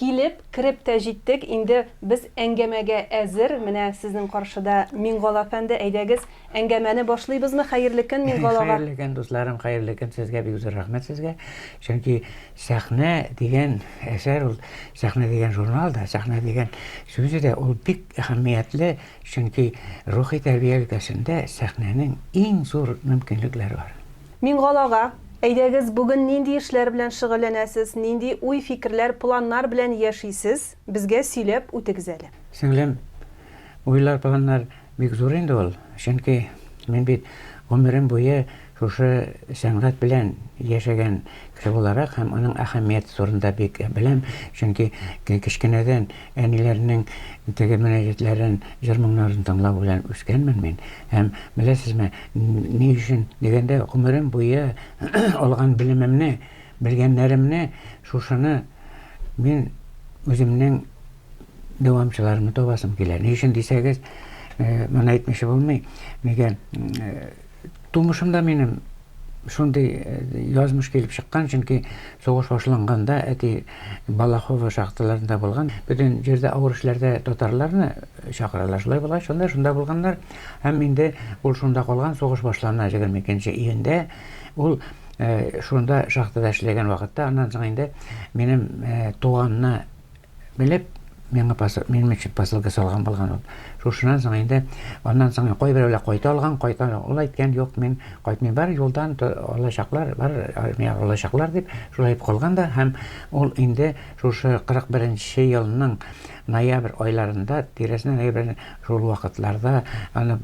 Килеп, кереп тә җиттек, инде без әңгәмәгә әзер, менә сезнең каршыда Миңгол әфәнде, әйдәгез, әңгәмәне башлыйбызмы, хәерле көн Миңгол ага. Хәерле көн, дусларым, хәерле көн сезгә, бик зур рәхмәт сезгә, чөнки Сәхнә дигән әсәр ул, Сәхнә дигән журнал да, Сәхнә дигән сүзе дә ул бик әһәмиятле, чөнки рухи тәрбия өлкәсендә Сәхнәнең иң зур мөмкинлекләре бар. Миңгол ага, әйдәгез, бүген нинди эшләр белән шөгыльләнәсез, нинди уй-фикерләр, планнар белән яшисез, безгә сөйләп үтегез әле. Сеңлем, уйлар-планнар бик зур инде ул, чөнки мин бит гомерем буе шушы сәнгать белән яшәгән кеше буларак һәм аның әһәмияте турында бик беләм, чөнки кечкенәдән әниләрнең теге мөнәҗәтләрен, җыр-моңнарын тыңлау белән үскәнмен мин һәм, беләсезме, Ни өчен дигәндә, гомерем буе алган белемемне, белгәннәремне, шушыны мин үземнең дәвамчыларымны табасым килә. Ни өчен дисәгез, моны әйтмичә булмый. Нигә? Тумышымда минем шундый язмыш килеп чыккан, чөнки сугыш башланганда әти Балахова шахталарында булган. Бөтен җирдә авыр эшләрдә татарларны чакыралар. Шулай була, шунда булганнар. Һәм инде ул шунда калган, сугыш башлана 22 июньдә. Ул шунда шахтада эшләгән вакытта, аннан соң инде минем туганны белеп, миңа посыл, минем өчен посылка салган булган ул. Шушынан соң инде аннан соң кайберәүләр кайта алган, кайта ул әйткән, юк, мин кайтмыйм, бар юлдан алачаклар, бар армия алачаклар дип, шулай дип калган да һәм ул инде шушы 41 нче елның Ноябрь айларында, тирәсенә ноябрь шул вакытларда аны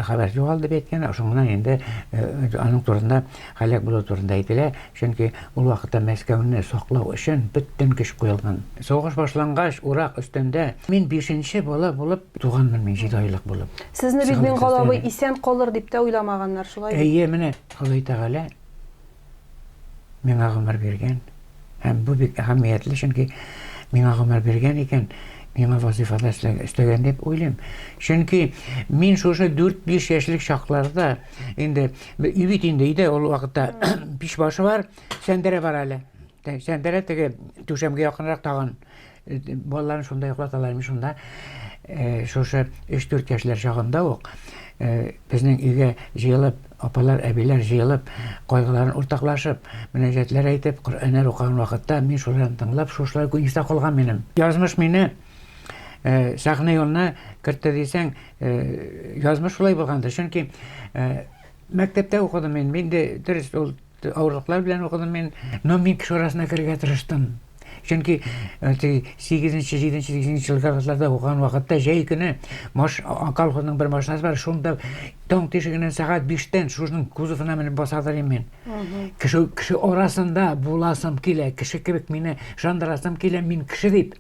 хәбәр югалды дип әйткән, шуңнан инде аның турында һәлак булу турында әйтелә, чөнки ул вакытта Мәскәүне саклау өчен бөтен көч куелган. Сугыш башлангач, урак өстендә мин бишенче бала булып туганмын, мин җиде айлык булып. Сезне бит Миңгал абый исән калыр дип тә уйламаганнар, шулай бит? Әйе, менә Ходай Тәгалә миңа гомер биргән. Һәм бу бик әһәмиятле, чөнки миңа гомер биргән икән, миңа вазифада эшләгән дип уйлыйм. Чөнки мин шушы 4-5 яшьлек чакларда инде бит инде өйдә ул вакытта пич башы бар, сәндерә бар әле. Сәндерә теге түшәмгә якынрак тагын. Балаларын шунда йоклаталар ими шунда. Шушы 3-4 яшьләр чагында ук безнең өйгә җыелып, апалар, әбиләр җыелып, кайгыларын уртаклашып, мөнәҗәтләр әйтеп, Коръәннәр укыган вакытта мин шуларны тыңлап, шушылар күп истә калган минем. Язмыш мине сәхнә юлына кертте дисәң, язмыш шулай булгандыр. Чөнки мәктәптә укыдым мин, инде дөрес ул Авырлыклар белән укыдым мин, но мин кеше арасына керергә тырыштым. Чөнки теге 8-нче, 7-нче, 8-нче елгы классларда укыган вакытта җәй көне маш колхозның бер машинасы бар, шунда таң тишегеннән сәгать 5-тән шушның кузовына менеп басадыр идем мин. Кеше кеше арасында буласым килә, кеше кебек мине шандырасым килә, мин кеше дип.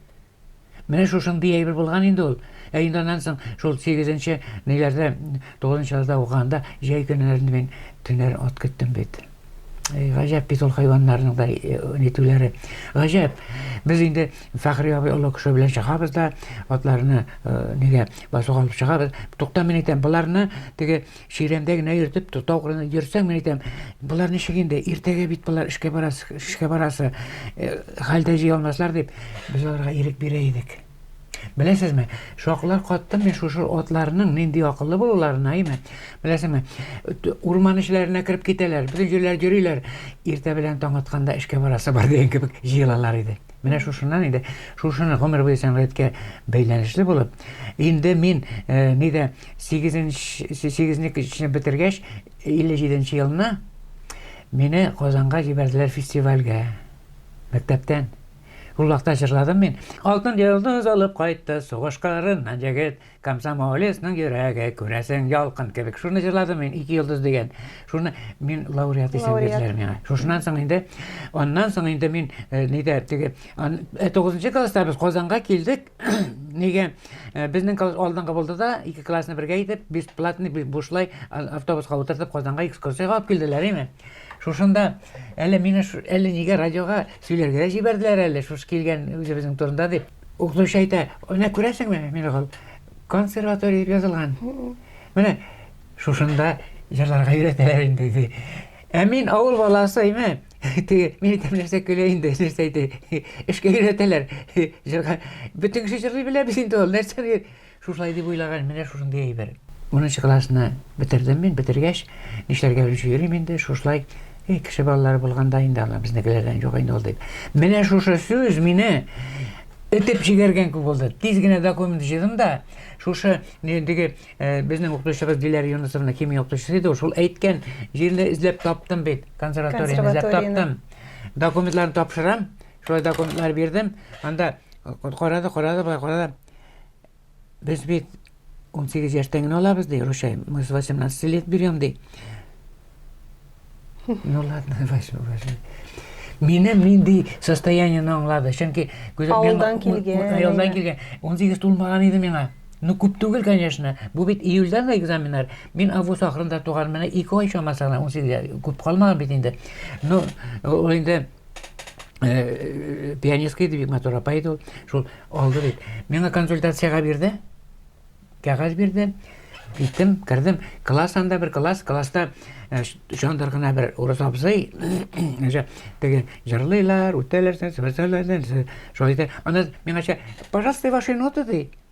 Менә шушындый әйбер булган инде ул. Ә инде аннан соң шул сигезенче ниләрдә, тугызынчы класста укыганда җәй көннәрен мин төннәр ат көттем бит. Эй, гаҗәп бит ул хайваннарның да э, нитүләре. Гаҗәп. Без инде Фәхри абый олы кеше белән чыгабыз да, атларны э, нигә басуга алып чыгабыз. Тукта мин әйтәм, боларны теге Чирәмдә генә йөртеп, тотау кырына йөрсәң, мин әйтәм, болар ничек инде, иртәгә бит болар эшкә барасы, эшкә барасы, э, хәлдә җыя алмаслар дип, без аларга ирек бирә идек. Беләсезме, шакылар каттым мин шушы атларның нинди акыллы булуларына, әйме? Беләсезме, урман эчләренә кереп китәләр, бөтен җирләр йөриләр, иртә белән таң атканда эшкә барасы бар дигән кебек җыелалар иде. Менә шушыннан инде, шушыны гомер буе сәнгатькә бәйләнешле булып, инде мин э, нидә 8 8-не кечне бетергәч 57 елны мине Казанга җибәрделәр фестивальгә. Мәктәптән. Ул вакытта җырладым мин. Алтын йолдыз алып кайтты сугыш кырыннан җегет. Комсомолецның йөрәге, күрәсең, ялкын кебек. Шуны җырладым мин, ике йолдыз дигән. Шуны мин лауреат исем Лауреат. бирделәр миңа. Шушыннан соң инде, аннан соң инде мин э, нидә теге ан- э, тугызынчы класста без Казанга килдек. Нигә э, безнең класс алдынгы булды да, ике классны бергә итеп, бесплатный бу- бушлай а- автобуска утыртып Казанга экскурсиягә алып килделәр, име? Шушында әле мине ш- әле нигә радиога сөйләргә дә җибәрделәр әле, шушы килгән үзебезнең турында дип. Укытучы әйтә, менә күрәсеңме, Мингол, консерватория дип язылган. Менә шушында җырларга өйрәтәләр инде, ди. Ә мин авыл баласы име? Теге мине тәмләсә көлә инде, нәрсә әйтә. Эшкә өйрәтәләр. Җырга бөтен кеше җырлый белә бит инде ул, нәрсә Шушылай дип уйлаган, менә шушындый әйбер. Унынчы классны бетердем мин, бетергәч, нишләргә белмичә йөрим инде, шушылай, и, кеше балалары булганда инде аны безнекеләрдән юк инде ул дип. Менә шушы сүз мине этеп җигәргән күк булды. Тиз генә документ җыйдым да, шушы диге э, безнең укытучыбыз Диләр Юнысовна химия укытучысы иде, шул әйткән җирне эзләп таптым бит, консерваторияне эзләп таптым. Документларны тапшырам, шулай документлар бирдем, анда карады, карады, карады, Без бит 18 яшьтән генә алабыз, ди, Рушай. Мы с 18 лет берем, ди. Ну ладно, ваш, ваш. Мине нинди состояниене аңлады. Чөнки күзәк Авылдан килгән. Авылдан килгән. 18 тулмаган иде миңа. Ну күп түгел, конечно. Бу бит июльдә дә экзаменнар. Мин август ахырында туган, менә 2 ай чамасы гына 18 күп калмаган бит инде. Ну, ул инде э, пианистка иде бик матур апа иде ул шул алды бит миңа консультацияга бирде кәгазь бирде киттем кердем класс анда бер класс класста э, шундыр гына бер урыс абзый теге җырлыйлар үтәләр шулай итә ана миңача пожалуйста ваши ноты ди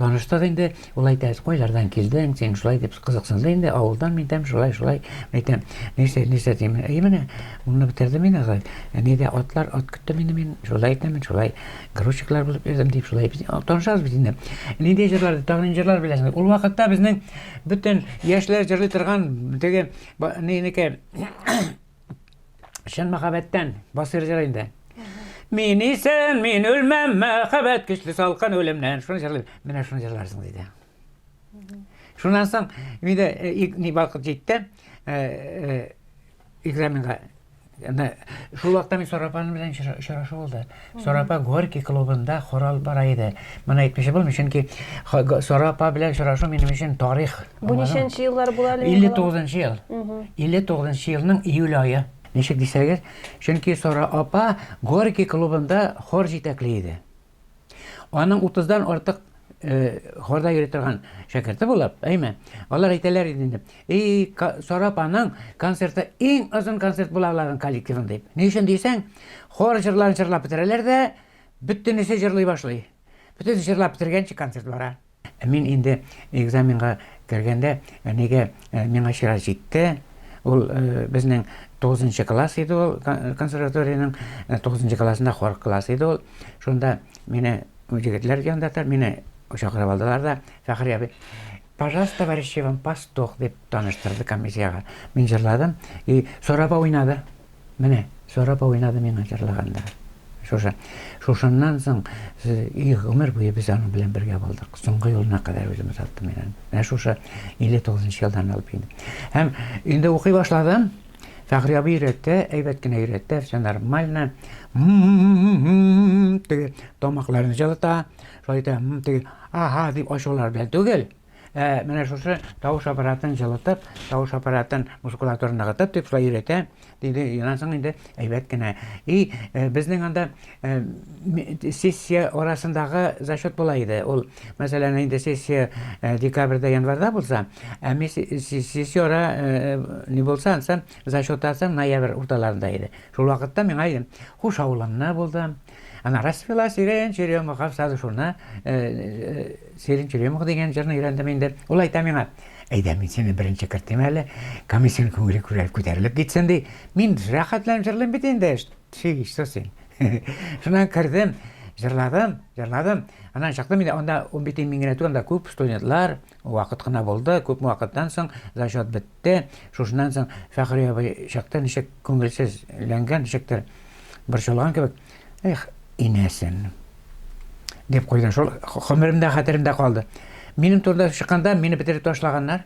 Таныштык инде, ул әйтә, кайлардан килдең, син шулай дип кызыксынды инде, авылдан мин дәм шулай, шулай, әйтәм, нәрсә, нәрсә дим, әй менә, монны бетердем мин агай, әни дә атлар, ат көтте мине мин, шулай әйтәм мин, шулай, грузчиклар булып йөрдем дип, шулай, танышабыз бит инде. Нинди җырлар, тагын нинди җырлар беләсең? Ул вакытта безнең бөтен яшьләр җырлый торган, теге, нинеке, Чын мәхәббәттән басырҗыр инде. Мин исән, мин үлмәм, мәхәббәт көчле салкын үлемнән. Шуны җырлыйм. Менә шуны җырларсың диде. Шуннан соң мине э, ни вакыт җитте э, э, экзаменга. Шул вакытта мин Сарапан белән очрашу булды. Сара апа Горький клубында хорал бара иде. Моны әйтмичә булмый, чөнки Сара апа белән очрашу минем өчен тарих. Бу ничәнче еллар була әле? 59 ел. 59 елның июль ае. Ничек дисәгез, чөнки Сара апа Горький клубында хор җитәкли иде. Аның 30 дан артык Хорда йөри торган шәкерте булып, әйме? Алар әйтәләр иде инде. И, Сарап аның концерты иң озын концерт була аларның коллективын дип. Ни өчен дисәң, хор җырларын җырлап бетерәләр дә, бөтенесе җырлый башлый. Бөтенесе җырлап бетергәнче концерт бара. Мин инде экзаменга кергәндә, әнигә миңа чират җитте. Ул безнең 9 класс иде ул консерваториянең 9 классында хор класс иде ул. Шунда мине Җегетләр янында тор, мине чакырып алдылар да, Фәхри абый, пожалуйста, товарищи вам пастух, дип таныштырды комиссиягә. Мин җырладым, и Сорапа уйнады. Менә, Сорапа уйнады миңа җырлаганда. Шушы. Шушыннан соң и гомер буе без аның белән бергә булдык. Соңгы юлына кадәр үземне саттым мин аны. Менә шушы 59 елдан алып инде. Һәм инде укый башладым. Фәхри абый өйрәтә, әйбәт кенә өйрәтә, все нормально. Теге тамакларын җылыта, шулай итә, теге аха дип ачулар белән түгел. Ә менә шушы тавыш аппаратын җылытып, тавыш аппаратын мускулатура ныгытып дип шулай өйрәтә, диде. Юнасың инде әйбәт кенә. И безнең анда Сессия арасындагы зачет болай иде, ул, мәсәлән, инде сессия декабрьдә, январьда булса, ә мис сессия ара ни булса, ансы зачет асы ноябрь урталарында иде. Шул вакытта миңа идем, хуш авылында булдым. Ана распила сирен черемух, авсады шуны сирен черемух дигән җырны өйрәндем инде. Ул әйтә миңа, әйдә мин сине беренче кертим әле, комиссион күңеле күтәрелеп китсен, ди. Мин рәхәтләнеп җырлыйм бит инде. Тфи ишсу син. Шуннан кердем, җырладым, җырладым. Аннан чыктым инде, анда унбите мин генә түгел, анда күп студентлар, вакыт кына булды, күпме вакыттан соң зачет бетте. Шушыннан соң Фәхри абый чыкты, ничек күңелсезләнгән, ничектер борчылган кебек. Эх, инәсен. Дип куйды, шул гомеремдә, хәтеремдә калды. Минем турыда чыкканда, мине бетереп ташлаганнар.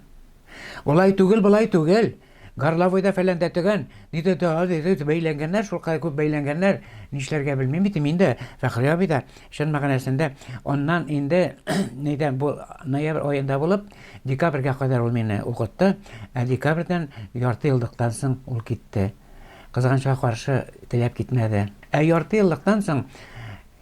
Улай түгел, болай түгел. Горловойда фәләндә төгән, диде дә ул, диде, бәйләнгәннәр, шулкадәр күп бәйләнгәннәр, нишләргә белмим бит мин дә, Фәхри абый да, чын мәгънәсендә, аннан инде, нидә, бу ноябрь аенда булып, декабрьгә кадәр ул мине укытты, ә декабрьдән яртыеллыктан соң ул китте. Кызганычка каршы, теләп китмәде. Ә яртыеллыктан соң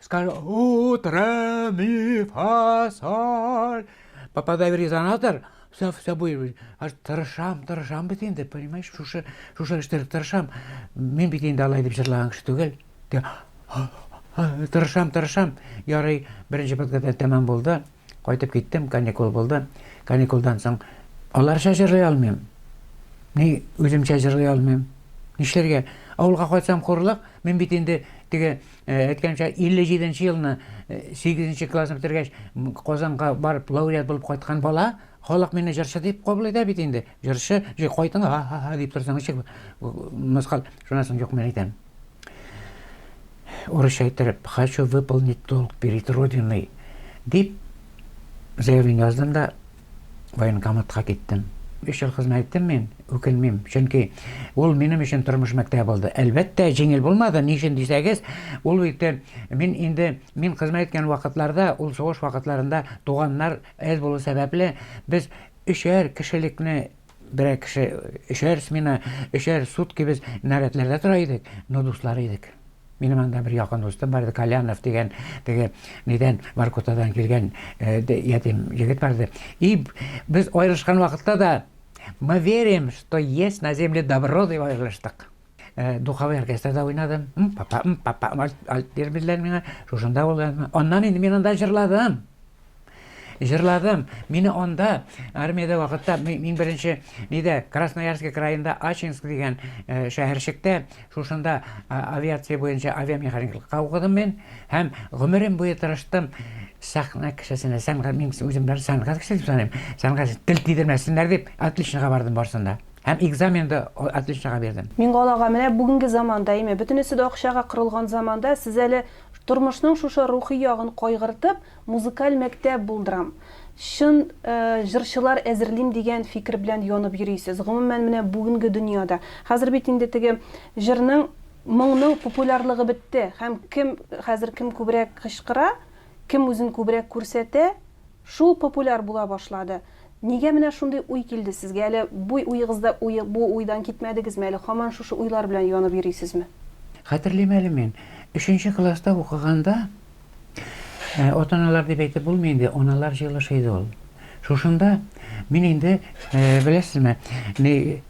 Скажу, утро, ми, фа, соль. Попадай в резонатор, все, все будет. Аж тырышам, тырышам бит инде, понимаешь, шушы, шушы эштер тырышам. Мин бит инде алай дип җырлаган кеше түгел. Тырышам, тырышам. Ярый, беренче подкатта тәмам булды. Кайтып киттем, каникул булды. Каникулдан соң аларча җырлый алмыйм. Ни үземчә җырлый алмыйм. Нишләргә? Авылга кайтсам хурлык, мин бит инде теге э, әйткәнчә 57 нче елны 8 э, нче классны бетергәч Казанга барып лауреат булып кайткан бала, халык мине җырчы дип кабул итә бит инде. Җырчы, җый кайтыңа, ха-ха-ха дип торсаң, ничек мыскыл? Шуннан соң юк, мин әйтәм. Урысча иттереп, хочу выполнить долг перед родиной дип заявление яздым да военкоматка киттем. Биш ел хезмәт иттем мин, үкенмим, чөнки ул минем өчен тормыш мәктәбе булды. Әлбәттә, җиңел булмады, ни өчен дисәгез, ул бит мин инде мин хезмәт иткән вакытларда, ул сугыш вакытларында туганнар әз булу сәбәпле, без Өчәр кешелекне берәр кеше, өчәр смена, өчәр сутки без нарядларда тора идек, но дуслар идек. Минем анда бер якын дустым бар иде, Колянов дигән, теге нидән, Воркутадан килгән э, ятим егет бар иде. И без аерылышкан вакытта да мы верим, что есть на земле добро дип аерылыштык. Духовой оркестрда уйнадым. Папа, папа, альт бирмедләр миңа. Шушында ул. Аннан инде мин анда җырладым. Җырладым. Мине анда армиядә вакытта мин беренче нидә Красноярск краенда Ачинск дигән шәһәрчектә шушында авиация буенча авиамеханиклыкка укыдым мин һәм гомерем буе тырыштым сәхнә кешесенә сәнгать мин үзем бер сәнгать кешесе саныйм сәнгать тел тидермәсеннәр дип отличнога бардым барсында Һәм экзамен да отличнога бирдем. Миңгалага, менә бүгенге заманда, име, бөтенесе дә акчага корылган заманда, сез әле тормышның шушы рухи ягын кайгыртып, музыкаль мәктәп булдырам, чын җырчылар әзерлим дигән фикер белән янып йөрисез. Гомумән, менә бүгенге дөньяда. Хәзер бит инде теге җырның, моңның популярлыгы бетте һәм кем хәзер кем күбрәк кычкыра, кем үзен күбрәк күрсәтә, Шул популяр була башлады. Нигә менә шундый уй килде сезгә? Әле буй уегызда уе, бу уйдан китмәдегезме? Әле хаман шушы уйлар белән янып йөрисезме? Хәтерлим әле мин. Өченче класста укыганда, атаналар дип әйтеп булмый инде, аналар җыелышы иде ул. Шушында мин инде, беләсезме, ни,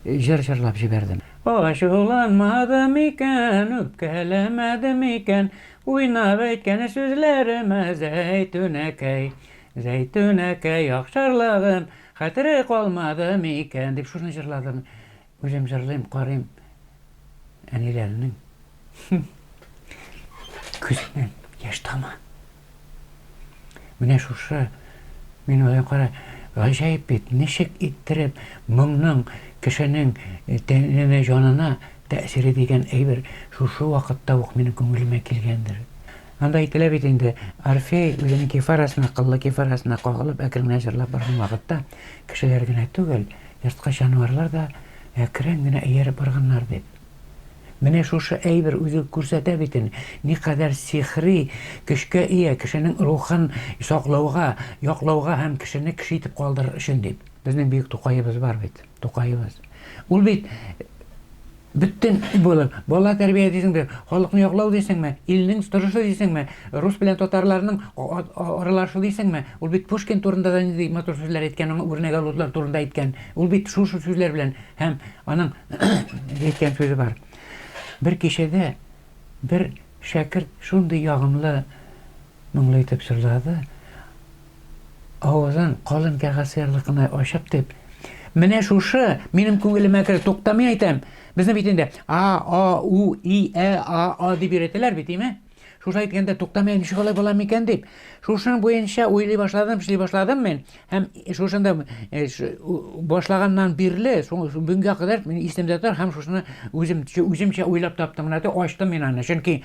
җыр җырлап җибәрдем. Ачуланмады микән, үпкәләмәде микән, Уйнап әйткән сүзләремә Зәйтүнәкәй, Зәйтүнәкәй Ахшарлыгым хәтере калмады микән? дип шуны җырладым. Үзем җырлыйм, карыйм әниләрнең күзеннән яшь тама. Менә шушы мин уйлыйм, кара, гаҗәеп бит, ничек иттереп моңның кешенең тәненә, җанына Тәэсире дигән әйбер шушы вакытта ук минем күңелемә килгәндер. Анда әйтелә бит инде, Орфей үзенең кефарасына, кыллы кефарасына кагылып әкрен генә җырлап барган вакытта, кешеләр генә түгел, ерткыч җанварлар да әкрен генә ияреп барганнар дип. Менә шушы әйбер үзе күрсәтә бит инде, никадәр сихри көчкә ия кешенең рухын саклауга, яклауга һәм кешене кеше итеп калдырыр өчен дип. Безнең бөек Тукаебыз бар бит. Тукаебыз. Ул бит бөтен булып, бала тәрбия дисең бер, халыкны яклау дисеңме, илнең торышы дисеңме, рус белән татарларның аралашу дисеңме, ул бит Пушкин турында да нинди матур сүзләр әйткән, аңа үрнәк алучылар турында әйткән. Ул бит шушы сүзләр белән һәм аның әйткән сүзе бар. Бер кичәдә бер шәкерт шундый ягымлы Моңлы итеп җырлады. Авызын калын кәгазь сыярлык кына ачып дип. Менә шушы минем күңелемә керә. Туктамый әйтәм. Безне бит инде а, а, у, и, ә, а, а дип өйрәтәләр бит, име? Шушы әйткәндә туктамый ничек алай була микән дип. Шушының буенча уйлый башладым, эшли башладым мин. Һәм шушында э, башлаганнан бирле, бүгенгә кадәр мин исемдә тор һәм шушыны үзем үземчә уйлап таптым менә дә ачтым мин аны. Чөнки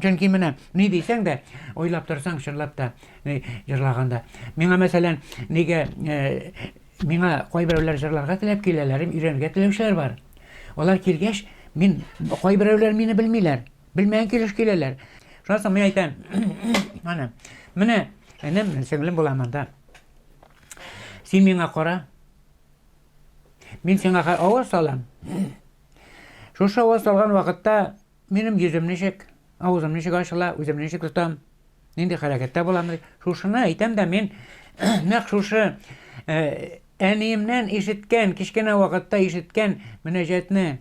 чөнки менә ни дисәң дә, уйлап торсаң чынлап та э, җырлаганда. Миңа мәсәлән, нигә э, миңа кайберәүләр җырларга теләп киләләр, өйрәнергә теләүчеләр бар. Алар килгәч, мин кайберәүләр мине белмиләр. Белмәгән килеш киләләр. Шуннан соң мин әйтәм, ана, менә энем, сеңлем була монда. Син миңа кара. Мин сиңа аваз салам. Шушы аваз салган вакытта минем йөзем ничек, авызым ничек ачыла, үзем ничек тотам, нинди хәрәкәттә булам. Шушыны әйтәм дә мин нәкъ шушы әниемнән ишеткән, кечкенә вакытта ишеткән мөнәҗәтне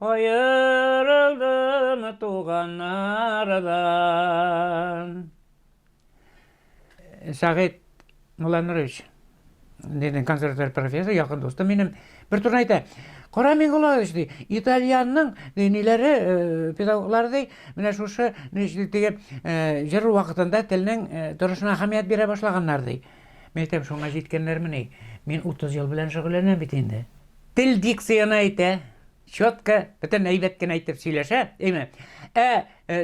Аерылдым туганнардан. Сәгыйть Мулланурович, дидем консерватория профессоры, якын дустым минем, бер турны әйтә, Кара Миңгулович, ди, итальянның диниләре, э, педагоглары, ди, менә шушы диге э, җыр вакытында телнең э, торышына әһәмият бирә башлаганнар, ди. Мен әйтәм, шуңа җиткәннәрмени? Мин 30 ел белән шөгыльләнәм бит инде. Тел дикцияне әйтә, чётка, бөтен әйбәт кенә әйтеп сөйләшә, әйме. Ә, э,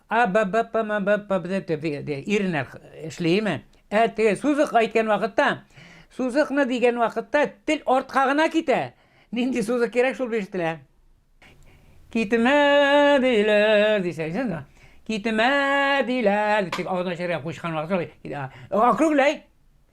а, б, б, п, м, б, п, б, д, т, б, д, иренә эшлейме? Ә, теге сузык әйткән вакытта, сузыкны дигән вакытта тел артка гына китә. Нинди сузык кирәк шул бишетелә. Китмә диләр, дисәң, син Китмә диләр, дип агына чыгып кушкан вакыт. Округлай.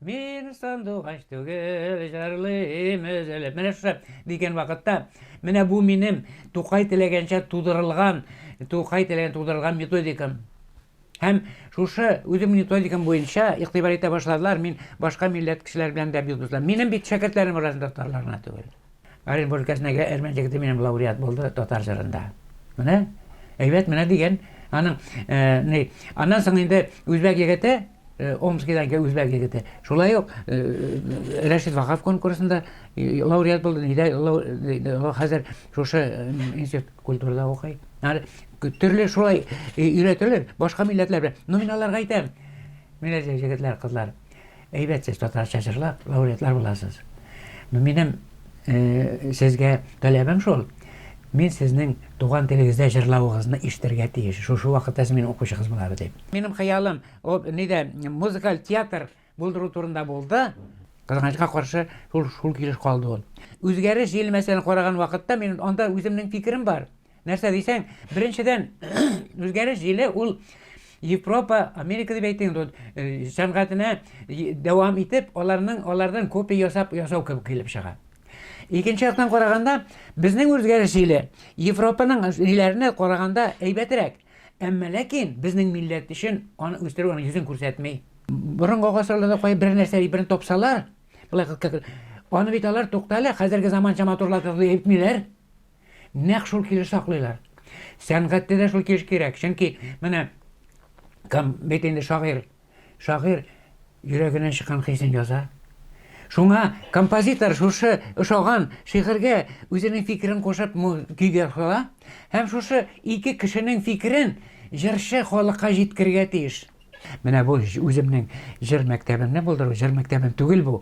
Мин сандугач түгел, җырлыйм өзелеп. Менә шушы дигән вакытта, менә бу минем Тукай теләгәнчә тудырылган, Тукай теләгән тудырылган методикам. Һәм шушы үзем методикам буенча игътибар итә башладылар, мин башка милләт кешеләр белән дә бик дуслар. Минем бит шәкертләрем арасында татарлар гына түгел. Оренбур өлкәсенеге Әрмән җегете минем лауреат булды татар җырында. Менә әйбәт менә дигән аның ни аннан соң инде үзбәк егете Омскидан килгән үзбәк егете. Шулай ук Рәшит Вахап конкурсында лауреат булды. Нидә хәзер шушы институт культурада укый. Төрле шулай өйрәтелер башка милләтләр белән. Ну мин аларга әйтәм. Менә җегетләр, кызлар. Әйбәт сез татарча җырлап, лауреатлар буласыз. Ну, минем э, сезгә таләбем шул. Мин сезнең туган телегездә җырлавыгызны ишетергә тиеш. Шушы вакытта сез минем укучыгыз була бит. Минем хыялым, о, нидә, музыкаль театр булдыру турында булды. Кызганычка каршы, шул шул килеш калды ул. Үзгәреш җилмәсен караган вакытта мин анда үземнең фикерем бар. Нәрсә дисәң, беренчедән, үзгәреш җиле ул Европа, Америка дип әйтте инде, э, сәнгатенә дәвам итеп, аларның алардан копия ясап ясау кебек килеп чыга. Икенче яктан караганда, безнең үзгәреш җиле Европаның җилләренә караганда әйбәтрәк. Әмма ләкин безнең милләт өчен аны үстерү аны йөзен күрсәтми. Борынгы гасырларда кай бер нәрсә бер топсалар, былай аны бит алар туктале, хәзерге заманча матурлатып әйтмиләр. Нәкъ шул килеш саклыйлар. Сәнгатьтә дә шул килеш кирәк. Чөнки менә кем бит инде шагыйрь. Шагыйрь йөрәгеннән чыккан хисен яза. Шуңа композитор шушы ошаган шигырьгә үзенең фикерен кушып көйгә сала һәм шушы ике кешенең фикерен җырчы халыкка җиткергә тиеш. Менә бу үземнең җыр мәктәбемне булдыру, җыр мәктәбем түгел бу.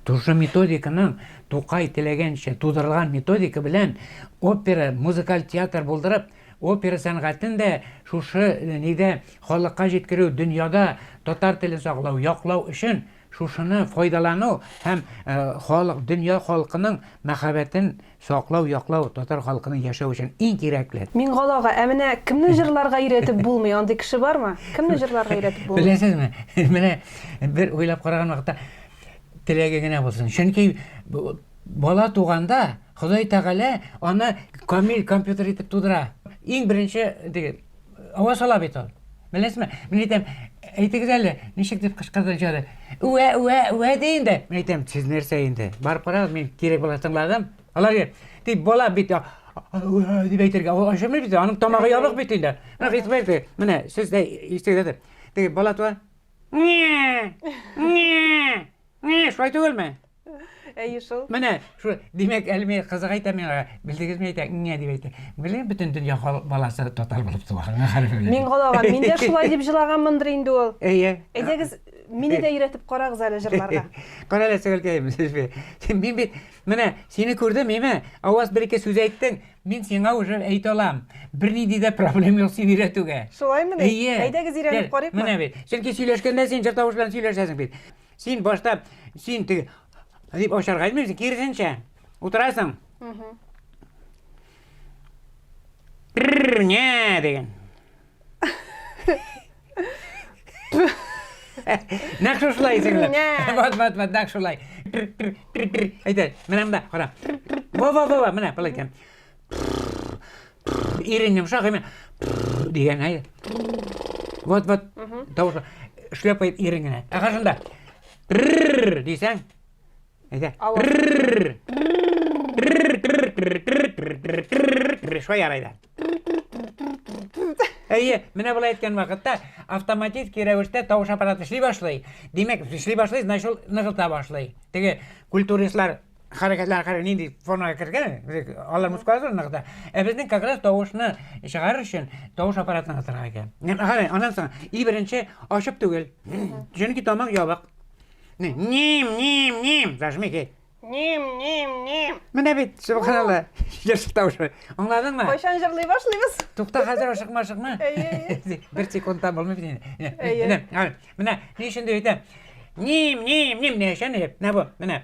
Тушы методиканың Тукай теләгәнчә тудырылган методика белән опера, музыкаль театр булдырып, опера сәнгатен дә шушы э, нидә халыкка җиткерү, дөньяда татар телен саклау, яклау өчен шушыны файдалану һәм э, халык, дөнья халкының мәхәббәтен Саклау, яклау, татар халкының яшәү өчен иң кирәкле. Миңгалага, ә менә кемне җырларга өйрәтеп булмый, андый кеше бармы? Кемне җырларга өйрәтеп булмый? Беләсезме, менә бер уйлап караган вакытта, теләге генә булсын. Чөнки бала туганда Ходай Тәгалә аны камил компьютер итеп тудыра. Иң беренче диген. Ава сала бит ул. Беләсезме? Мин әйтәм, әйтегез әле, ничек дип кычкырды җары. Үә, үә, үә ди инде. Мин әйтәм, сез нәрсә инде? Барып карагыз, мин кирәк була тыңладым. Алар дип, дип бала бит үә дип әйтергә. Ул ашамый бит, аның тамагы ябык бит инде. Менә хисбәр ди. Менә сез дә ишетегез. Теге бала туа. Не! Не! Ни, шулай түгелме? Әйе шул. Менә шу димәк әле мин кызык әйтә миңа, белдегезме әйтә, иңә дип әйтә. Беле бөтен дөнья баласы татар булып туа. Мин галаган, мин дә шулай дип җылаганмындыр инде ул. Әйе. Әйдәгез, мине дә өйрәтеп карагыз әле җырларга. Кара әле сәгәлкәем, сез бе. Мин бит менә сине күрдем, миме? Аваз бер ике сүз әйттең, мин сиңа уже әйтә алам. Бернинди дә проблем юк сине өйрәтүгә. Шулаймыни? Әйе. Әйдәгез өйрәнеп карыйк. Менә бит. Чөнки сөйләшкәндә син җыр тавыш белән сөйләшәсең бит. Син башта син теге дип ачарга итмисең, киресенчә. Утырасың. Угу. Не деген. Нәк шушылай сеңле. Вот, вот, вот, нәк шулай. Әйтә, менә мында, кара. Во, во, во, менә, былай икән. Ирен йомшак әмә дигән әйе. Вот вот тавыш шлепает ирен генә. Ә каршында дисәң әйдә. Шулай ярай да. Әйе, менә болай әйткән вакытта автоматик рәвештә тавыш аппараты эшли башлый. Димәк, эшли башлый, значит ул ныгыта башлый. Теге культуристлар хәрәкәтләр карый нинди формага кергән алар мускулатура ныгыта ә безнең как раз тавышны чыгарыр өчен тавыш аппаратын ныгытырга кирәк карый аннан соң и беренче ачып түгел чөнки тамак ябык ним ним ним зажми кит ним ним ним менә бит субханалла ешык тавышы аңладыңмы кайчан җырлый башлыйбыз тукта хәзер ашыкма ашыкма бер секундта булмый бит инде менә ни өчен дип әйтәм ним ним ним ни өчен дип менә бу менә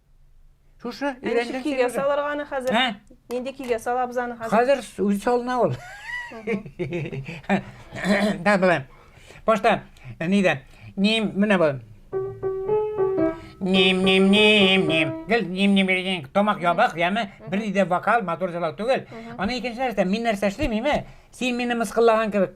Шушы өйрәнгән Кигә салырга аны хәзер. Ә? Нинди кигә салабыз аны хәзер? Хәзер үзе салына ул. Да, былай. Башта нидә? Ним, менә бу. Ним, ним, ним, ним. Гел ним, ним, ним. Тамак ябык, яме. Бер дә вокал, мотор җырлау түгел. Аны икенче нәрсә, мин нәрсә эшлим, име? Син мине мыскыллаган кебек.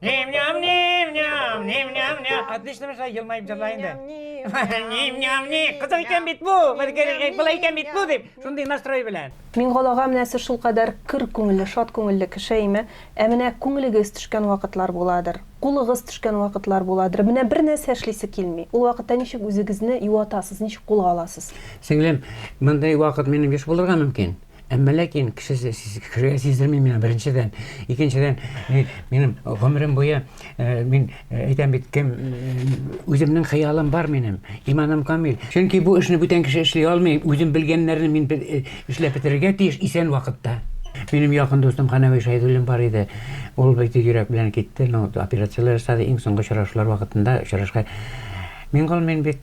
Ним-ням, ним-ням, ним-ням, ням. Отлично мешла, елмаеп җырла инде. Ним-ням, ни. Кызык икән бит бу. Былай икән бит бу дип, шундый настрой белән. Миңгол ага менә сез шулкадәр көр күңелле, шат күңелле кеше име? Ә менә күңелегез төшкән вакытлар буладыр, кулыгыз төшкән вакытлар буладыр. Менә бер нәрсә эшлисе килми. Ул вакытта ничек үзегезне юатасыз, ничек кулга аласыз? Сеңлем, мондый вакыт минем еш булырга мөмкин. Әмма ләкин кешесе кешегә сиздерми миңа беренчедән. Икенчедән, минем гомерем буе э, мин э, әйтәм бит кем э, үземнең хыялым бар минем, иманым камил. Чөнки бу эшне бүтән кеше эшли алмый, үзем белгәннәрне мин эшләп бетерергә тиеш исән вакытта. Минем якын дустым Ханәви Шәйдуллин бар иде. Ул бит йөрәк белән китте, но операцияләр ясады иң соңгы очрашулар вакытында очрашка. Мин гол мин бит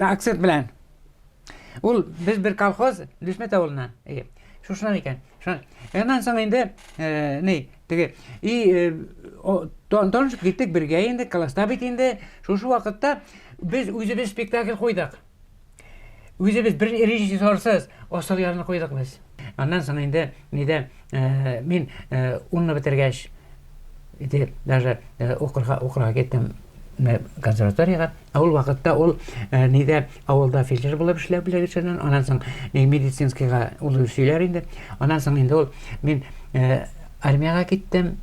акцент белән ул без бер колхоз дүшмәт авылына ие шушынан икән аннан соң инде э, ни теге и э, танышып киттек бергә инде класста бит инде шушы вакытта без үзебез спектакль куйдык үзебез бер режиссерсыз асыл ярны куйдык без аннан соң инде нидә Э, мин э, унны бетергәч итеп даже э, укырга укырга киттем консерваторияга ә ул вакытта ул нидә авылда фельдшер булып эшләп белгеченнән аннан соң медицинскийга ул сөйләр инде аннан соң инде ул мин армияга киттем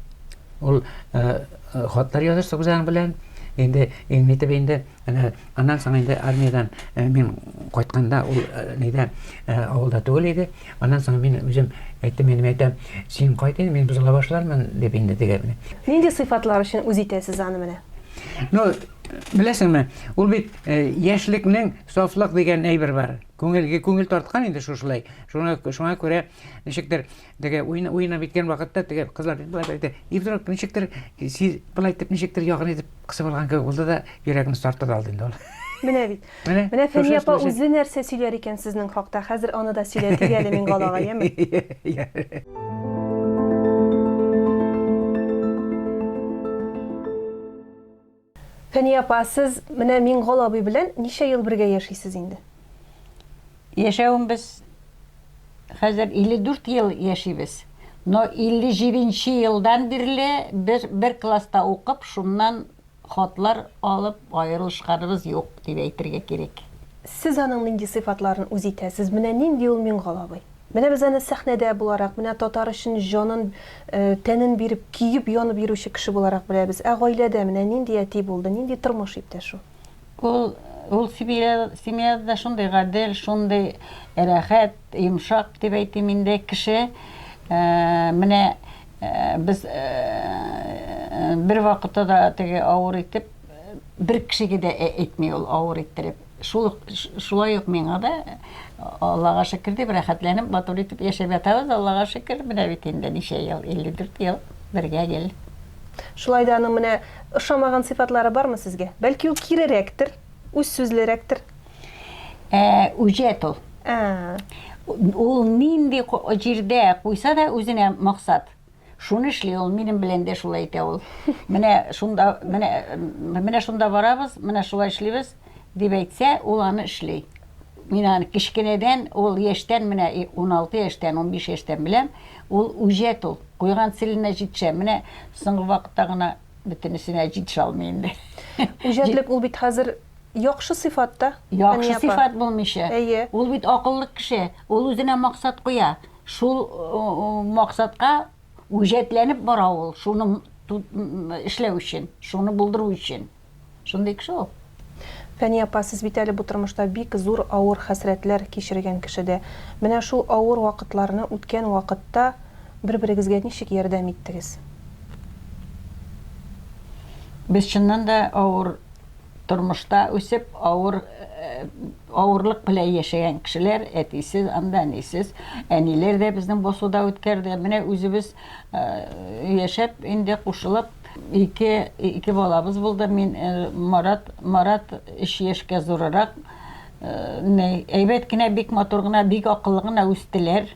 ул хатлар языштык үзең белән инде итеп инде Әнә аннан соң инде армиядән мин кайтканда ул нидә авылда түгел иде. Аннан соң мин үзем әйттем, мин әйтәм, син кайт инде, мин бозыла башлармын дип инде дигән. Нинди сыйфатлар өчен үз итәсез аны менә? Ну, беләсеңме, ул бит яшьлекнең сафлык дигән әйбер бар. Күңелгә күңел тарткан инде шушылай. Шуңа күрә ничектер Теге уен уенап иткән вакытта теге кызлар бит болай әйтә. И вдруг ничектер сиз болай итеп ничектер ягын итеп кысып алган кебек булды да йөрәгемне тартып алды инде ул. Менә бит. Менә Фәния апа үзе нәрсә сөйләр икән сезнең хакта. Хәзер аны да сөйләтик әле Мингалага, яме? Фәния апа, сез менә Миңгол абый белән ничә ел бергә яшисез инде? Яшәвебез хәзер 54 ел яшибез. Но 57 нче елдан бирле без бер класста укып, шуннан хатлар алып аерылышканыбыз юк, дип әйтергә кирәк. Сез аның нинди сыйфатларын үз итәсез? Менә нинди ул Миңгол абый? Менә без аны сәхнәдә буларак, менә татар өчен җанын, тәнен биреп, көеп-янып йөрүче кеше буларак беләбез. Ә гаиләдә менә нинди әти булды, нинди тормыш иптәш ул? Ул, ул семья, семьяда да шундый гадел, шундый рәхәт, йомшак дип әйтим инде кеше. Менә без бервакытта да теге авыр итеп бер кешегә дә әйтми ул авыр иттереп. Шул ук, шулай ук миңа да, Аллага шөкер дип, рәхәтләнеп, матур итеп яшәп ятабыз, Аллага шөкер, менә бит инде ничә ел, 54 ел бергә гел. Шулай да аның менә ошамаган сыйфатлары бармы сезгә? Бәлки ул кирерәктер, үзсүзлерәктер? Ә, үҗәт ул. Ә. Ул нинди җирдә куйса да үзенә максат. Шуны эшли ул, минем белән дә шулай итә ул. Менә шунда, менә, менә шунда барабыз, менә шулай эшлибез, дип әйтсә, ул аны эшли. Мин аны кечкенәдән, ул яшьтән, менә 16 яшьтән, 15 яшьтән беләм, ул үҗәт ул. Куйган целенә җитешә. Менә соңгы вакытта гына бөтенесенә җитешә алмый инде. Үҗәтлек ул бит хәзер яхшы сыйфат та. Яхшы сыйфат булмыйча. Әйе. Ул бит акыллы кеше, ул үзенә максат куя. Шул максатка үҗәтләнеп бара ул, шуны эшләү өчен, шуны булдыру өчен. Шундый кеше ул. Фәния апа, сез бит әле бу тормышта бик зур авыр хәсрәтләр кичергән кеше дә. Менә шул авыр вакытларны үткән вакытта бер-берегезгә ничек ярдәм иттегез? Без чыннан да авыр. тормышта үсеп, авыр, авырлык белән яшәгән кешеләр, әтисез, анда әнисез. Әниләр дә безнең басуда үткәрде. Менә үзебез яшәп, инде кушылып, ике, ике балабыз булды. Мин Марат, Марат өч яшькә зурырак. Әйбәт кенә, бик матур гына, бик акыллы гына үстеләр.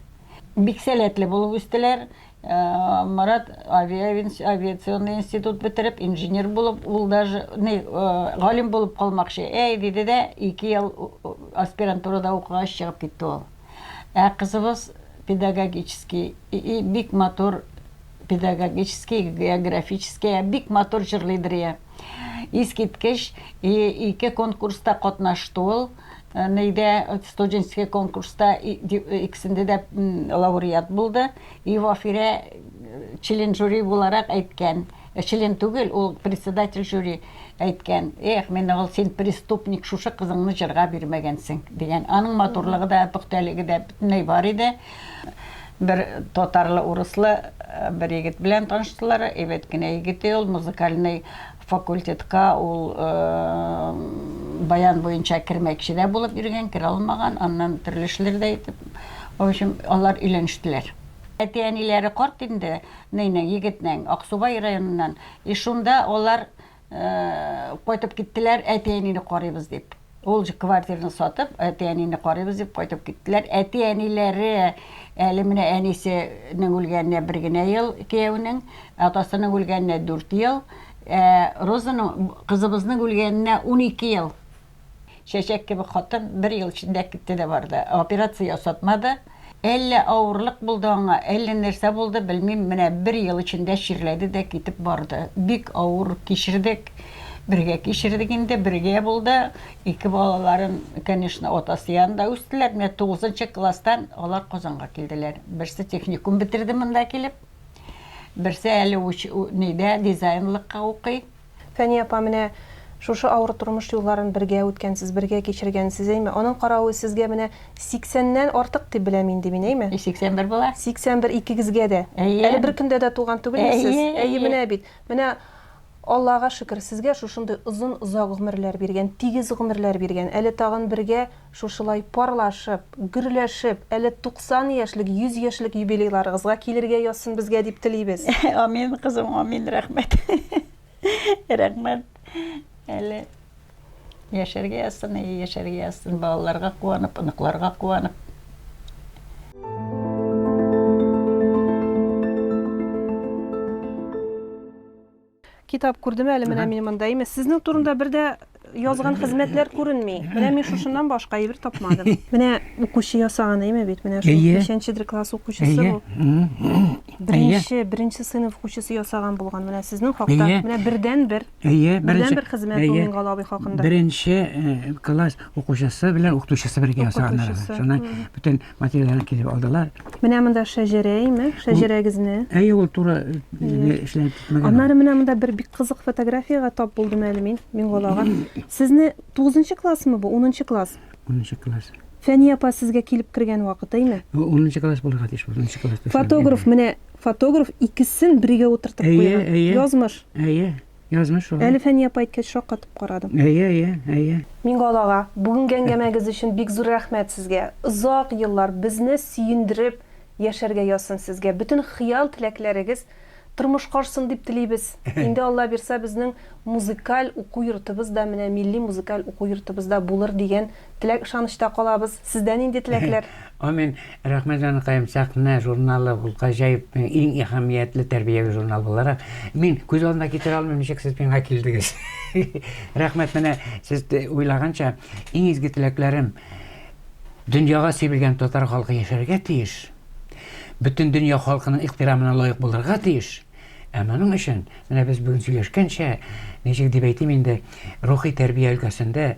Бик сәләтле булып үстеләр. Марат авиационный институт бетереп, инженер булып, ул даже ни, галим булып калмакчы, әй, диде дә, ике ел аспирантурада укыгач чыгып китте ул. Ә кызыбыз педагогический, бик матур педагогический, географический, бик матур җырлыйдыр, я. Искиткеч, ике конкурста катнашты ул. Э, нейде э, студенческий конкурста э, иксенде дә лауреат булды и вафирә член жюри буларак әйткән член түгел ул председатель жюри әйткән эх мен ул син преступник шушы кызыңны җырга бирмәгәнсең дигән аның матурлыгы да пөхтәлеге дә бөтенләй бар иде бер татарлы урыслы бер егет белән таныштылар әйбәт кенә егет ул музыкальный Факультетка ул баян буенча кермәкче дә булып йөргән, керә алмаган, аннан төрле эшләрдә итеп, в общем, алар өйләнештеләр. Әти-әниләре карт инде Нейның, егетнең, Аксубай районыннан. И шунда алар кайтып киттеләр, әти-әнине карыйбыз дип. Ул җ квартираны сатып, әти-әнине карыйбыз дип кайтып киттеләр. Әти-әниләре әле менә әнисе нең үлгәненә бер генә ел, кияүнең, атасының үлгәненә дүрт ел, ә Розаның, кызыбызның үлгәненә унике ел. Чәчәк кебек хатын бер ел эчендә китте дә барды. Операция ясатмады. Әллә авырлык булды аңа, әллә нәрсә булды, белмим, менә бер ел эчендә чирләде дә китеп барды. Бик авыр кичердек. Бергә кичердек инде, бергә булды. Ике балаларын, конечно, атасы янында үстеләр. Менә тугызынчы класстан алар Казанга килделәр. Берсе техникум бетерде монда килеп, берсе әле уч, нидә, дизайнлыкка укый. Фәния апа, менә шушы авыр тормыш юлларын бергә үткәнсез, бергә кичергәнсез, әйме? Аның каравы сезгә менә сиксәннән артык дип беләм инде мин, әйме? Й, сиксән бер була. Сиксән бер икегезгә дә. Әйе. Әле бер көндә дә туган түгелме сез? Әйе, әйе. Менә бит. Менә Аллага шөкер, сезгә шушындый озын, озак гомерләр биргән, тигез гомерләр биргән. Әле тагын бергә. Шушылай парлашып, гөрләшеп, әле 90 яшьлек, 100 яшьлек юбилейларыгызга килергә язсын безгә дип телибез. Амин, кызым, амин, рәхмәт. Рәхмәт. Әле яшәргә язсын, әйе, яшәргә язсын, балаларга куанып, оныкларга куанып. Китап күрдем әле менә мин монда. Имеш, сезнең турында бер дә язган хезмәтләр күренми. Менә мин шушыннан башка әйбер тапмадым. Менә укучы ясаган әйме бит. Менә шул 5-дер класс укучысы бу. Беренче, беренче сыйныф укучысы ясаган булган. Менә сезнең хакта. Менә бердән бер. Әйе, бердән бер хезмәт бу Мингал абый хакында. Беренче класс укучысы белән укытучысы бергә ясаганнар. Шуннан бөтен материалларын китереп алдылар. Менә монда шәҗәрәйме? Шәҗәрәгезне. Әйе, ул туры э, эшләнеп китмәгән. Аннары менә монда бер бик кызык фотографиягә тап булдым әле мин, Миңгалага. Сезне 9 классмы бу? 10 класс. 10 класс. Фәния апа сезгә килеп кергән вакыты име? 10 класс булырга тиеш, 10 класс. Фотограф менә фотограф икесен бергә утыртып куйган. Язмыш. Әйе. Язмыш шулай. Әле Фәния апа әйткәч шаккатып карадым. Әйе, әйе, әйе. Миңгол ага, бүгенге әңгәмәгез өчен бик зур рәхмәт сезгә. Озак еллар безне сөендереп яшәргә язсын сезгә. Бөтен хыял-теләкләрегез тормышка ашсын дип телибез. Инде Алла бирса, безнең музыкаль уку йортыбыз да менә милли музыкаль уку йортыбызда булыр дигән Теләк-ышанычта калабыз. Сездә нинди теләкләр? Амин. Рәхмәт, җаныкаем. Сәхнә журналы ул гаҗәеп, иң әһәмиятле тәрбияви журнал буларак, мин күз алдына китерә алмыйм, ничек сез миңа килдегез. Рәхмәт, менә сез уйлаганча, иң изге теләкләрем, дөньяга сибелгән татар халкы яшәргә тиеш, бөтен дөнья халкының ихтирамына лаек булырга тиеш, ә моның өчен, менә без бүген сөйләшкәнчә, ничек дип әйтим инде, рухи тәрбия өлкәсендә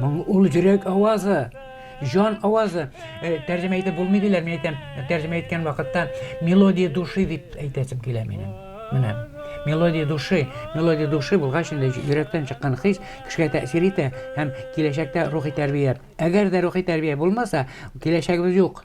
Моң ул йөрәк авазы, җан авазы. Э, тәрҗемә итеп булмый диләр, мин әйтәм, тәрҗемә иткән вакытта мелодия души дип әйтәсем килә минем. Менә мелодия души, мелодия души булгач инде йөрәктән чыккан хис кешегә тәэсир итә һәм киләчәктә рухи тәрбия. Әгәр дә рухи тәрбия булмаса, киләчәгебез юк.